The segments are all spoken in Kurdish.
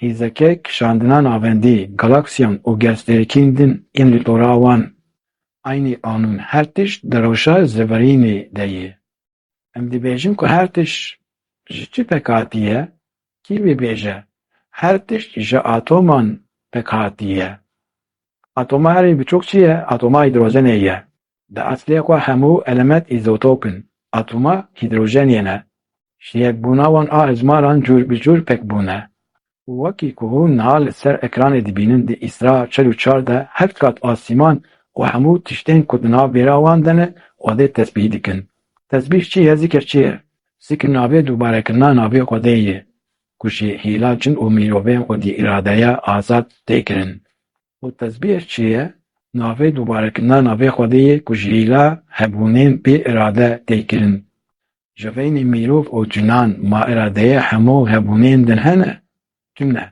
Hêzeke kişandina navendî, galaksiyan û gezfêrikên din yên li tora wan aynî qanûn her tişt di rewşa zêvirînê de ye. Em dibêjin ku her tişt ji çi pek hatiye? Kî bibêje her tişt ji atoman pek hatiye? Atoma herî biçûk çi ye? Atoma hîdrojenê ye. Di eslê xwe hemû elemet îzotop in. Atoma hîdrojenê ne. ji yekbûna wan a hejmaran cûr bi cûr pek bûne. Wekî ku hûn niha li ser ekranê dibînin di îsra çil û çar de heft qat asîman û hemû tiştên ku di nav bêra wan de ne Xwedê tesbîh dikin. Tesbîh çi ye zikir çi ye? Zikir navê dûbarekirina navê Xwedê ye ku ji hîla cin û mîrovên xwedî îradeya azad tê kirin. Û tesbîh çi ye? Navê dûbarekirina navê Xwedê ye ku ji hîla hebûnên bê îrade tê kirin. Ji beynê mîrov û cinan ma îradeyê hemû hebûnên din hene, tu ne.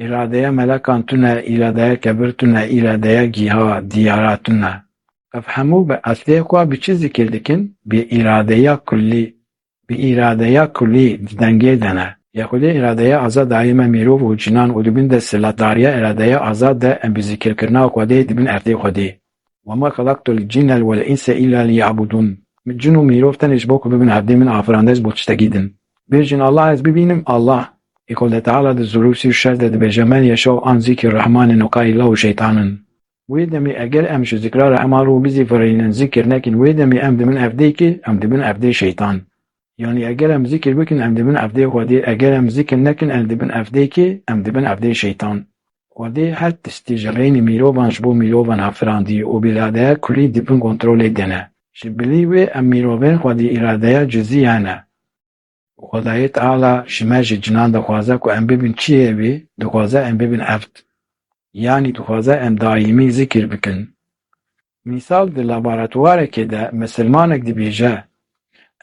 Îradeya melekan tu ne, îradeya kebir tu ne, îradeya gîha, diyara tu ne. Ev hemû bi eslê xwe bi çi zikir dikin? Bi îradeya kullî. Bi îradeya kullî di dengê de ne. Ya xwedî îradeya azad dayê me mîrov û cinan û di bin desthilatdariya îradeya azad de em bi zikirkirina xwedê dibin erdê xwedî. Wema xelaqtul cinne vel inse illa liyabudun Min cin û mirov tenê ji bo ku bibin hevdî min afirand ez bo tiştekî din. Bêjin Allah ez bibînim Allah Ê Xwedê Teala di Zurûr sî û şer de dibêje men yeşa û an zîkrî Rehman in û kayî la û şeytan in. Wê demê eger em ji zikra Rehman rû bizîvirînin zikr nekin wê demê em dibin evdê kê? Em dibin evdê şeytan. Yanî eger em zikr bikin em dibin evdê Xwedê, eger em zikr nekin em dibin evdê kê? Em dibin evdê şeytan. Xwedê her tiştî ji rênê mîrovan ji bo mîrovan hat firandî û bi îradeya kulî di bin kontrolê de ne. Ji bilî wê em mîrovên xwe di îradeya cizî hene û Xwedayê Teala ji me ji cinan dixwaze ku em bibin çiyê wî, dixwaze em bibin evd. Yanî dixwaze em daîmî zikr bikin. Mîsal di laboratwarekê de misilmanek dibêje,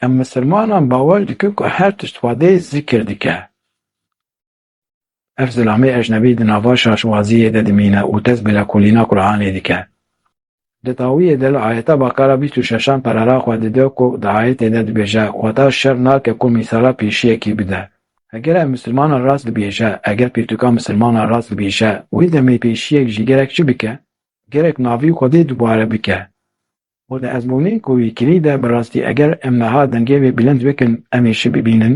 Em misilmanan bawer dikin ku her tişt xwedê zikir dike. Ev zilamê ecnebî di nava şaşwaziyê de dimîne û dest bi lekolîna Qur'anê dike. Di dawiyê de li ayeta Bakara bîst û şeşan perara xwe dide ku di ayetê de dibêje, Xweda şer nake ku mîsala pêşiyekî bide. Heger ev misilmana rast dibêje, heger pirtûka misilmana rast dibêje, wê demê pêşiyek jî gerek çi bike? Gerek navî Xwedê dubare bike. Û di ezmûnê ku wî kirî de bi rastî eger em niha dengê wê bilind bikin em ê şi bibînin.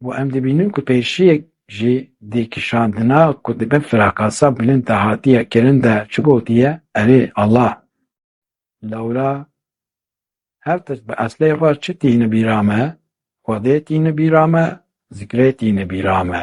Bo em dibînin ku pêşiyek jî dê kişandina ku dibe firakasa bilind de hatiye kirin de çi gotiye, Erê, Allah! Lewra her tişt bi eslê xwe çi tîne bîra me, Xwedê tîne bîra me, zikrê tîne bîra me.